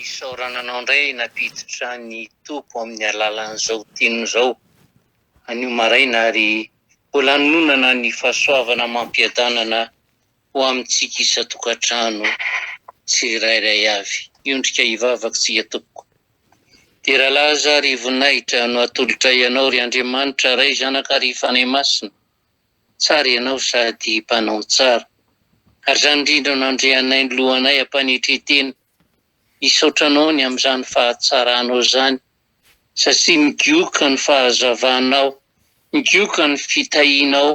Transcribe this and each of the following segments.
Isaorana anao indray nampiditra ny Tompo amin'ny alalan'izao teniny izao anio maraina ary ho lanonana ny fahasoavana amam-piadanana ho amintsika isan-tokantrano tsirairay avy. Hiondrika hivavaka isika Tompoko. Dera laza ary voninahitra no atolotray Anao ry Andriamanitra Ray, Zanaka ary Fanahy Masina. Tsara ianao sady mpanao ny tsara. Ary izany indrindra no nandrianay ny lohanay am-panetren-tena. Misaotra anao ny amin'izany fahatsaranao izany satria migioka ny fahazavanao, migioka ny fitahianao,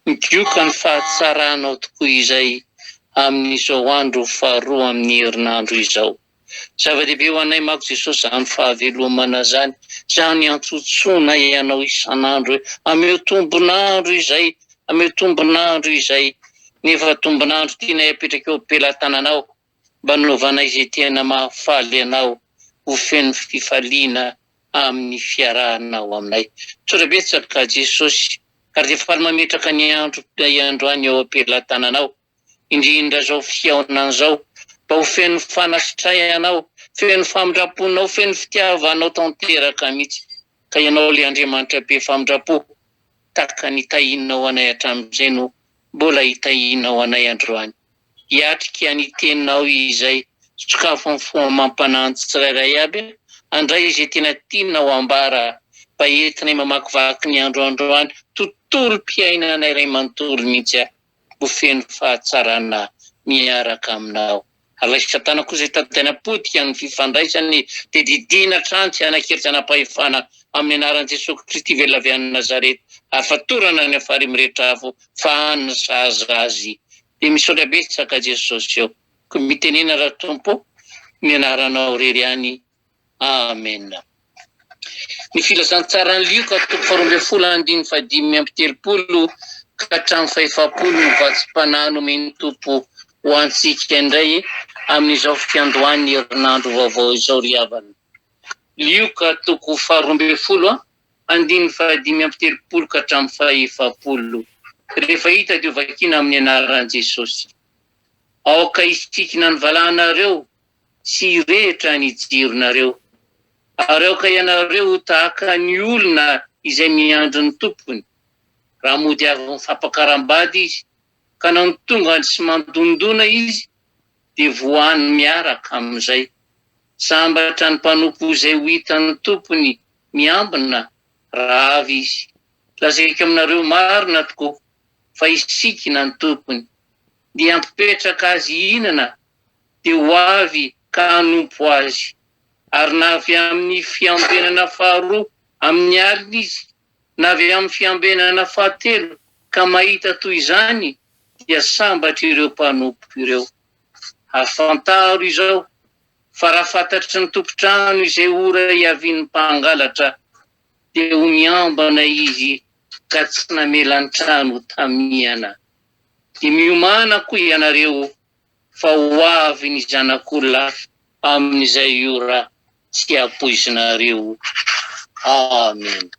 migioka ny fahatsaranao tokoa izay amin'izao andro faharoa amin'ny herinandro izao. Zava-dehibe ho anay manko Jesosy zany fahavelomana zany, zany iantsontsoanay Anao isan'andro hoe ameo tombon'andro izay, ameo tombon'andro izay, nefa tombon'andro tianay apetraka eo am-pelatananao mba hanaovanay izay tena mahafaly Anao ho feno fifaliana amin'ny fiarahanao aminay. Misaotra betsaka Jesosy ary dia faly mametraka ny andro androany eo am-pelatananao. indrindra zao fihaonana zao mba ho feno fanasitrahana aho, feno famindramponao, feno fitiava anao tanteraka mitsy ka ianao le Andriamanitra be famindrampo taka ny tahinao anay hatramizay no mbola hitahinao anay androany hiatrika ny teninao izay sokafo am fo amam-panahy ny tsirairay aby handray izay tena tianao ambara mba entinay mamakivaky ny andro androany tontolom-piainanay ray manontolo mitsy aho. ho feno fahatsarana miaraka aminao. Alaiky Satana kosa hitady hanapotika ny fifandraisany dia didiana hatrany tsy hanan-kery tsy hanam-pahefana amin'ny anaran'i Jesosy Kristy velona avy any Nazareth ary fatorana any amin'ny farihy mirehitra afo fa any ny sahaza azy. Dia misaotra betsaka Jesosy ô. Koa mitenena Ratompo ny anaranao rery ihany Amen. Ny filazantsaran'i Lioka toko faharoa ambin'ny folo andininy fahadimy amby telopolo ka hatramin'ny fahefapolo no vatsim-panahy nomen'ny Tompo ho antsika indray amin'izao fiandohan'ny herinandro vaovao izao ry havana. Lioka toko faharoa ambin'ny folo andininy fahadimy amby telopolo ka hatramin'ny fahefapolo. Rehefa hita dia hovakiana amin'ny anaran'i Jesosy. Aoka hisikinan'ny valahanareo tsy hirehitra ny jironareo, ary aoka ianareo ho tahaka ny olona izay miandry ny tompony, raha mody avy mifampakaram-bady izy, ka na ny tongany sy mandondona izy, dia vohano miaraka amin'izay. Sambatra ny mpanompo izay ho hitan'ny tompony miambina raha avy izy. Lazaiko aminareo marina tokoa, fa hisikina ny tompony, dia hampipetraka azy hihinana dia ho avy ka hanompo azy. Ary na avy amin'ny fiambenana faharoa amin'ny alina izy, na avy amin'ny fiambenana fahatelo ka mahita toy izany, dia sambatra ireo mpanompo ireo. Ary fantaro izao, fa raha fantatry ny tompon-trano izay ora hiavian'ny mpangalatra, dia ho miambana izy ka tsy namela ny trano ho tamihana. Dia miomàna koa ianareo fa ho avy ny Zanak'olona amin'izay ora tsy ampoizinareo. Amena.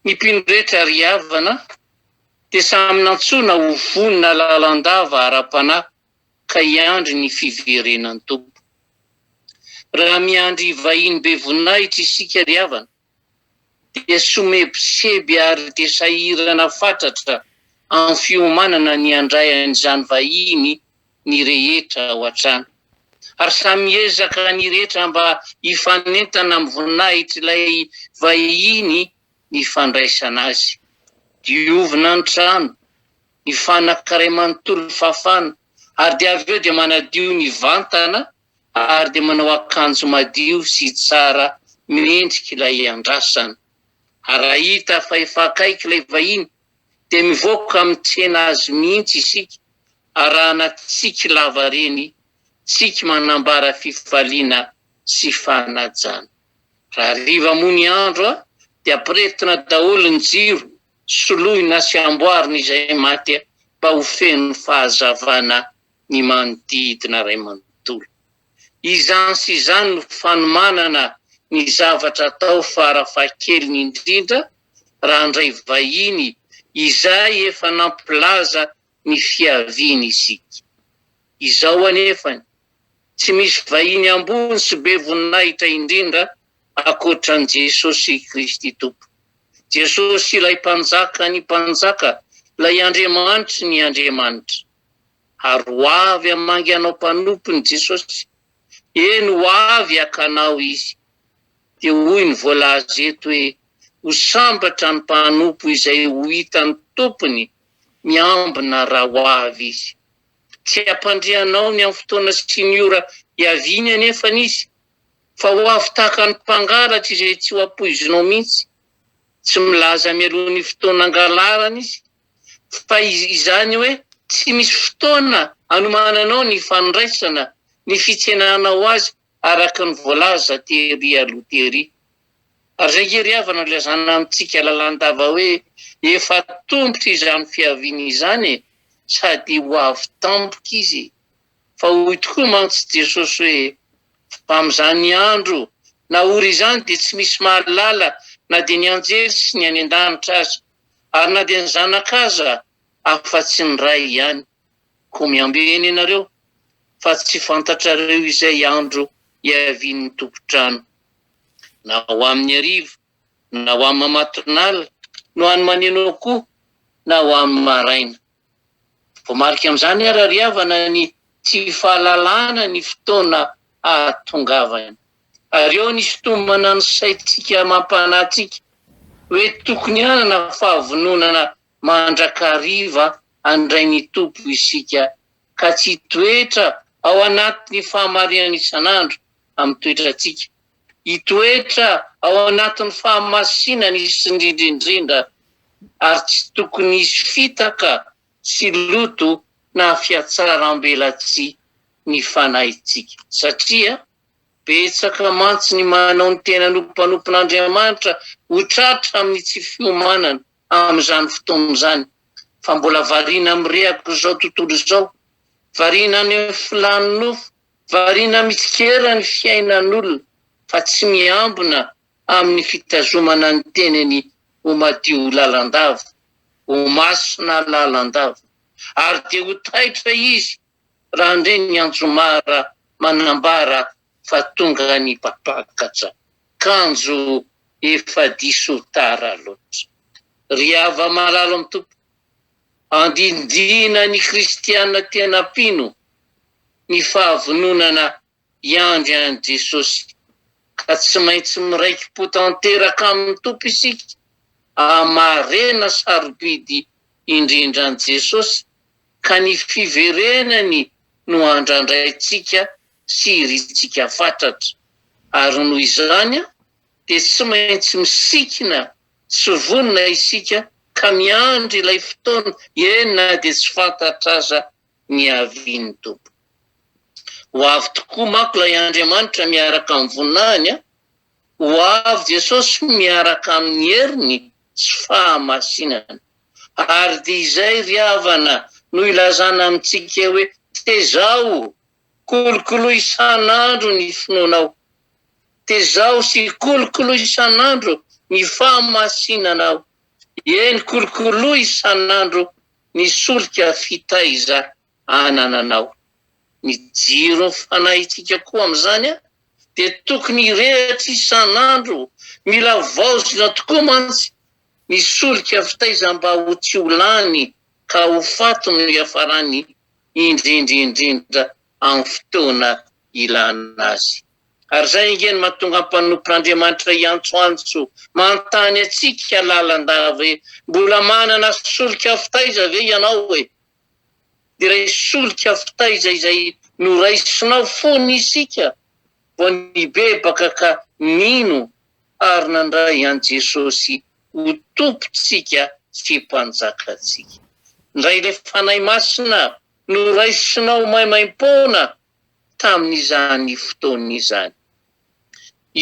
Ny mpino rehetra ry havana dia samy nantsoina ho vonona lalandava ara-panahy ka hiandry ny fiverenan'ny Tompo. Raha miandry vahiny be voninahitra isika ry havana, dia somebiseby ary dia sahirana fatratra amin'ny fiomanana ny handray an'izany vahiny ny rehetra ao an-trano. Ary samy miezaka ny rehetra mba hifanentana amin'ny voninahitr'ilay vahiny ny fandraisana azy. Diovina ny trano, ny fanaka iray manontolo fafana ary dia avy eo dia manadio ny vantana ary dia manao akanjo madio sy tsara mendrika ilay andrasana. Raha hita fa efa akaiky ilay vahiny dia mivoaka amin'ny tsena azy mihitsy isika, arahana tsiky lava reny, tsiky manambara fifaliana sy fanajana. Raha hariva moa ny andro dia ampirehetina daholo ny jiro, soloina sy amboarina izay maty mba ho feno fahazavana ny manodidina ray manontolo. Izany sy izany no fanomanana ny zavatra atao fara fahakeliny indrindra raha handray vahiny izay efa nampilaza ny fiaviany isika. Izao anefany, tsy misy vahiny ambony sy be voninahitra indrindra ankoatra an'i Jesosy Kristy Tompo. Jesosy ilay Mpanjakan'ny mpanjaka, ilay Andriamanitry ny andriamanitra. ary ho avy hamangy anao mpanompony Jesosy, eny ho avy haka anao Izy. Dia hoy ny voalaza eto hoe ho sambatra ny mpanompo izay ho hitan'ny tompony miambina raha ho avy Izy. Tsy hampandre anao ny amin'ny fotoana sy ny ora hiaviany anefa Izy, fa ho avy tahaka ny mpangalatra izay tsy ho ampoizinao mihitsy. Tsy milaza mialoha ny fotoana hangalarany Izy, fa izany hoe tsy misy fotoana anomananao ny fandraisana ny fitsenanao azy araka ny voalaza tery aloha tery. Ary izay nge ry havana no ilazana amintsika lalandava hoe efa tombotra izany fiaviana izany e, sady ho avy tampoka izy, fa hoy tokoa mantsy Jesosy hoe fa amin'izany andro na ora izany dia tsy misy mahalala na dia ny anjely sy ny any an-danitra aza. Ary na dia ny zanaka aza afa-tsy ny ray ihany, koa miambena ianareo fa tsy fantatrareo izay andro hiavian'ny tompon-trano. Na ho amin'ny hariva, na ho amin'ny matinala, no any maneno akoho, na ho amin'ny maraina. Voamarika amin'izany ary ry havana ny tsy fahalalana ny fotoana hahatongavany. Ary eo ny sintomana ny saintsika mampanahy antsika hoe tokony hanana fahavononana mandrakariva handray ny Tompo isika ka tsy hitoetra ao anatin'ny fahamariany isan'andro amin'ny toetrantsika Hitoetra ao anatin'ny fahamasinany izy indrindra indrindra, ary tsy tokony hisy fitaka sy loto na fihatsarambelatsihy ny fanahintsika, satria betsaka mantsy ny manao ny tenany ho mpanompon'Andriamanitra ho tratra amin'ny tsy fiomanana amin'izany fotoana izany, fa mbola variana mirehaka izao tontolo izao, variana any amin'ny filàn'ny nofo Variana mitsikera ny fiainan'olona fa tsy miambina amin'ny fitazomana ny teniny ho madio lalandava, ho masina lalandava. Ary dia ho taitra izy raha handre ny anjomara manambara fa tonga ny mpapakatra, kanjo efa diso tara loatra. Ry hava-malalo amin'ny Tompo, andidiana ny kristiana tena mpino. ny fahavononana hiandry an'i Jesosy, ka tsy maintsy miraiki-po tanteraka amin'ny Tompo isika hahamaharena sarobidy indrindra an'i Jesosy, ka ny fiverenany no andrandraintsika sy irintsika fatratra. Ary noho izany dia tsy maintsy misikina sy vonona isika ka miandry ilay fotoana, eny na dia tsy fantatra aza ny havian'ny Tompo. Ho avy tokoa manko ilay Andriamanitra miaraka amin'ny voninahiny, ho avy Jesosy miaraka amin'ny heriny sy fahamasinany. Ary dia izay ry havana no ilazana amintsika hoe, Tezaho, kolokolo isan'andro ny finoanao. Tezaho sy kolokolo isan'andro ny fahamasinanao. Eny, kolokolo isan'andro Ny solika fitaiza anananao. Ny jiron'ny fanahintsika koa amin'izany dia tokony hirehitra isan'andro, mila vaozina tokoa mantsy ny solika fitaiza mba ho tsy ho lany ka ho faty no hiafarany indrindra indrindra amin'ny fotoana ilana azy. Ary izay ange no mahatonga ny mpanompon'Andriamanitra hiantsoantso manontany antsika lalandava hoe, Mbola manana solika fitaiza ve ianao e? Dia ilay solika fitaiza izay noraisinao fony isika vao nibebaka ka nino ary nandray an'i Jesosy ho Tompontsika sy Mpanjakantsika. Indray ilay Fanahy Masina noraisinao maimaim-poana tamin'izany fotoana izany.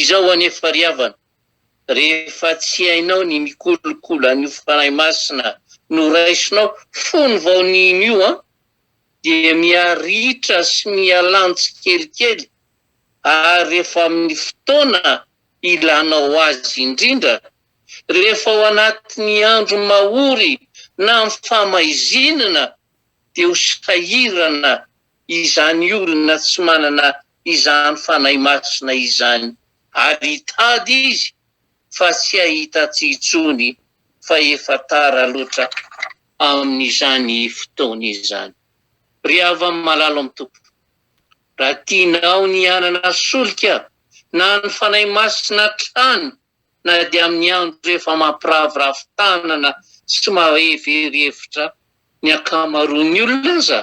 Izao anefa ry havana, rehefa tsy hainao ny mikolokolo an'io Fanahy Masina noraisinao fony vao nino io an, dia miha-ritra sy miha-lany tsikelikely ary rehefa amin'ny fotoana ilanao azy indrindra, rehefa ao anatin'ny andro mahory na amin'ny fahamaizinana, dia ho sahirana izany olona tsy manana izany Fanahy Masina izany, ary hitady izy fa tsy hahita tsy intsony fa efa tara loatra amin'izany fotoana izany. Ry havana malalo amin'ny Tompo, raha tianao ny hanana solika na ny Fanahy Masina hatrany, na dia amin'ny andro efa mampiraviravy tanana sy mahevery hevitra ny ankamaroan'ny olona aza,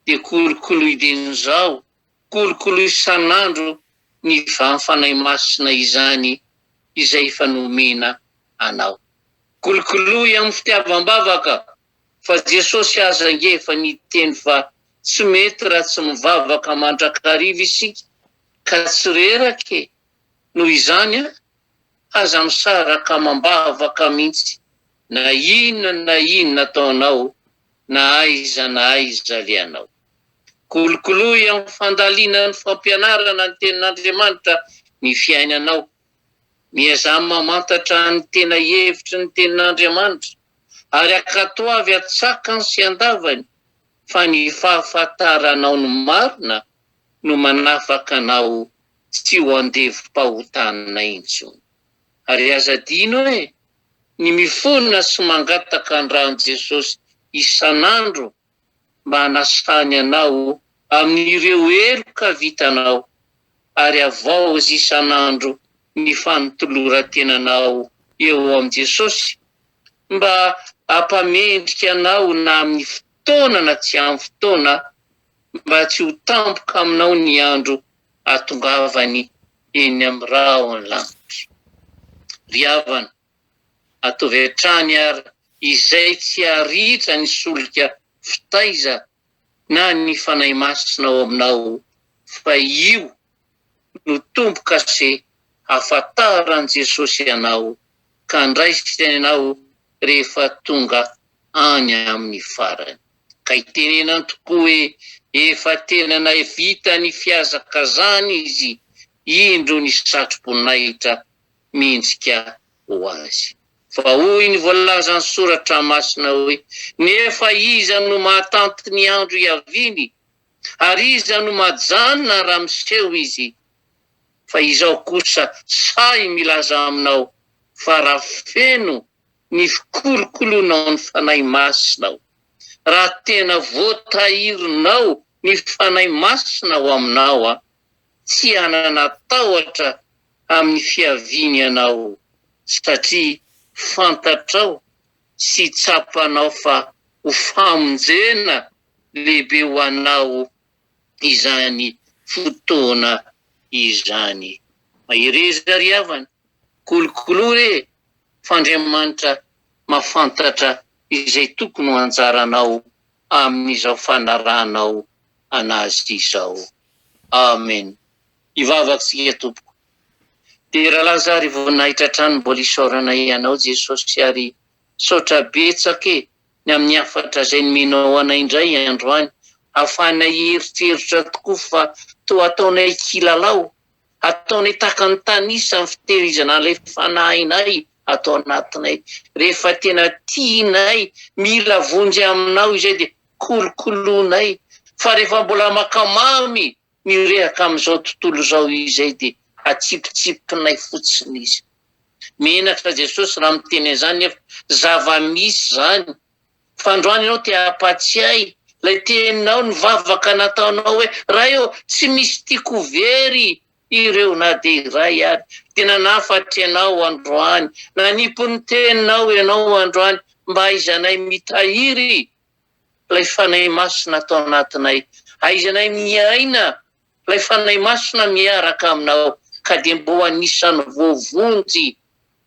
dia kolokoloy dieny izao, kolokoloy isan'andro ny vahany Fanahy Masina izany izay efa nomena anao. Kolokoloy amin'ny fitiavam-bavaka, fa Jesosy aza ange efa niteny fa tsy mety raha tsy mivavaka mandrakariva isika ka tsy reraka e! Noho izany, aza misaraka amam-bavaka mihitsy na inona na inona ataonao na aiza na aiza alehanao. Kolokoloy amin'ny fandalinan'ny fampianarana ny Tenin'Andriamanitra ny fiainanao. Miezaha mamantatra ny tena hevitry ny Tenin'Andriamanitra, ary ankatoavy an-tsakany sy an-davany fa ny fahafantaranao ny marina no manafaka anao tsy ho andevom-pahotana intsony. Ary aza adino hoe ny mifona sy mangataka ny ran'i Jesosy isan'andro mba hanasany anao amin'ireo heloka vitanao, ary havaozy isan'andro ny fanoloran-tenanao eo amin'i Jesosy mba hampamendrika anao na amin'ny fotoana na tsy amin'ny fotoana mba tsy ho tampoka aminao ny andro hahatongavany eny amin'ny rahon'ny lanitra. Ry havana, ataovy hatrany ary izay tsy haritra ny solika fitaiza na ny Fanahy Masina ao aminao, fa io no tombo-kase hahafantaran'i Jesosy anao ka handraisany anao rehefa tonga any amin'ny farany. Ka itenenany tokoa hoe efa tena nahavita ny fihazakazahany izy, indro ny satroboninahitra mihintsika ho azy. Fa hoy ny voalazan'ny Soratra Masina hoe, Nefa iza no mahatanty ny andro hiaviany? Ary iza no majanona raha miseho izy? Fa izao kosa sahy milaza aminao fa raha feno ny fikolokoloanao ny Fanahy Masina ao. Raha tena voatahirinao ny Fanahy Masina ao aminao, tsy hanana tahotra amin'ny fiaviany ianao, satria fantatrao sy tsapanao fa ho famonjena lehibe ho anao izany fotoana izany. Mahereza ry havana, kolokolo re fa Andriamanitra mahafantatra izay tokony ho anjaranao amin'izao fanarahanao an'Azy izao. Amen. Hivavaka tsika tompoko. Dia ra laza ary voninahitra hatrany mbola isaorana ianao Jesosy ary misaotra betsaka e ny amin'ny hafatra izay nomenao anay indray androany hahafahanay hieritreritra tokoa fa toa ataonay kilalao Ataonay tahaka ny tanisa amin'ny fitehirizana an'ilay fanahinay ato anatinay. Rehefa tena tianay, mila vonjy aminao izay dia kolokoloinay. Fa rehefa mbola maka mamy mirehaka amin'izao tontolo izao izay dia atsipitsipinay fotsiny izy. Menatra Jesosy raha miteny an'izany nefa zava-misy izany. Fa androany ianao te hampatsiahy ilay teninao nivavaka nataonao hoe, Ray ô, tsy misy tiako ho very ireo na dia iray ary. Dia nanafatra ianao androany, nanipy ny teninao ianao androany mba hahaizanay mitahiry ilay Fanahy Masina ato anatinay, hahaizanay miaina Ilay Fanahy Masina miaraka aminao, ka dia mba ho anisan'ny voavonjy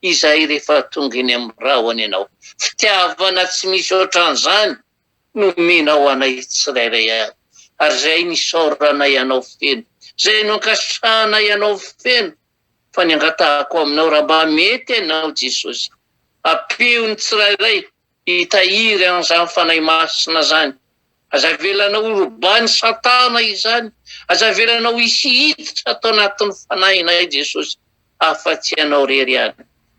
izay rehefa tonga eny amin'ny rahona ianao. Fitiavana tsy misy ohatran'izany no omenao anay tsirairay avy, ary izay no isaoranay anao feno, izay no ankasitrahanay anao feno, fa ny angatahako aminao, raha mba mety ianao Jesosy, ampio ny tsirairay, hitahiry an'izany Fanahy Masina izany. Aza avelanao ho robahin'i Satana izany, aza avelanao hisy hiditra ato anatin'ny Fanahinay Jesosy afa-tsy Ianao irery ihany.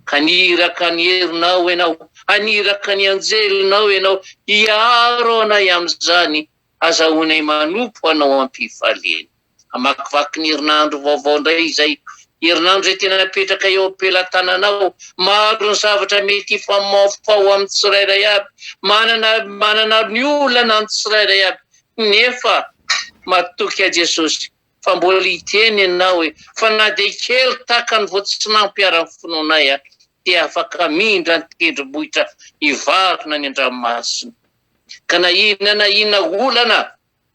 Haniraka ny herinao Ianao, haniraka ny anjelinao Ianao hiaro anay amin'izany Hazahoanay manompo Anao am-pifaliana. Hamakivaky ny herinandro vaovao indray izay, herinandro izay tena napetraka eo am-pelatananao. Maro ny zavatra mety hifamaofao ho amin'ny tsirairay avy. Manana, manana ny olana ny tsirairay avy. Nefa matoky ahy Jesosy fa mbola hiteny Ianao hoe, fa na dia kely tahaka ny voatsinanpy ara ny finoanay dia afaka mindra ny tendrombohitra hivarina ny an-dranomasina. ka na inona na inona olana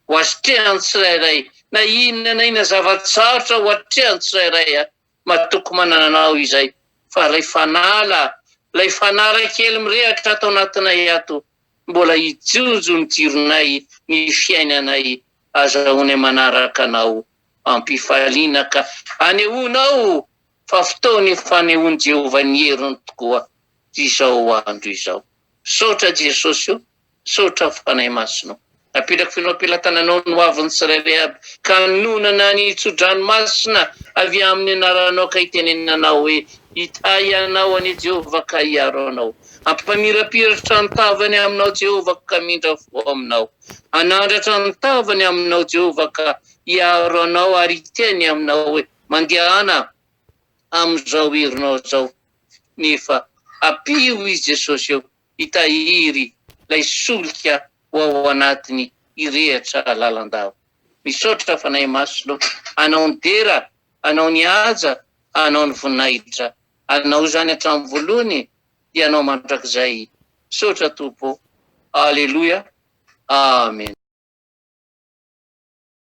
ho asetrehan'ny tsirairay, na inona na inona zava-tsarotra ho atrehan'ny tsirairay a, matoky manana anao izay, fa ilay fanala, ilay fanala kely mirehatra ato anatinay ato, mbola hijinjo ny jironay, ny fiainanay, azahoanay manaraka anao am-pifaliana ka hanehoanao fa fotoana ifanehoan'i Jehovah ny heriny tokoa izao andro izao. Misaotra Jesosy o! Misaotra Fanahy Masina o! Napetrako feno am-pelatana Anao ny hoavin'ny tsirairay aby, ka nonina ny tso-dranomasina avy amin'ny anaranao ka itenenana aho hoe, Hitahy anao anie Jehovah ka hiaro anao. Hampamirapiratra ny tavany aminao Jehovah ka hamindra fo aminao. Hanandratra ny tavany aminao Jehovah ka hiaro anao ary hiteny aminao hoe, Mandehana amin'izao herinao izao, nefa ampio i Jesosy eo hitahiry ilay solika ho ao anatiny hirehatra lalandava. Misaotra Fanahy Masina ô, anao ny dera, anao ny haja, anao ny voninahitra, anao izany hatramin'ny voalohany dia anao mandrakizay, misaotra Tompo ô, Aleloia, Amen.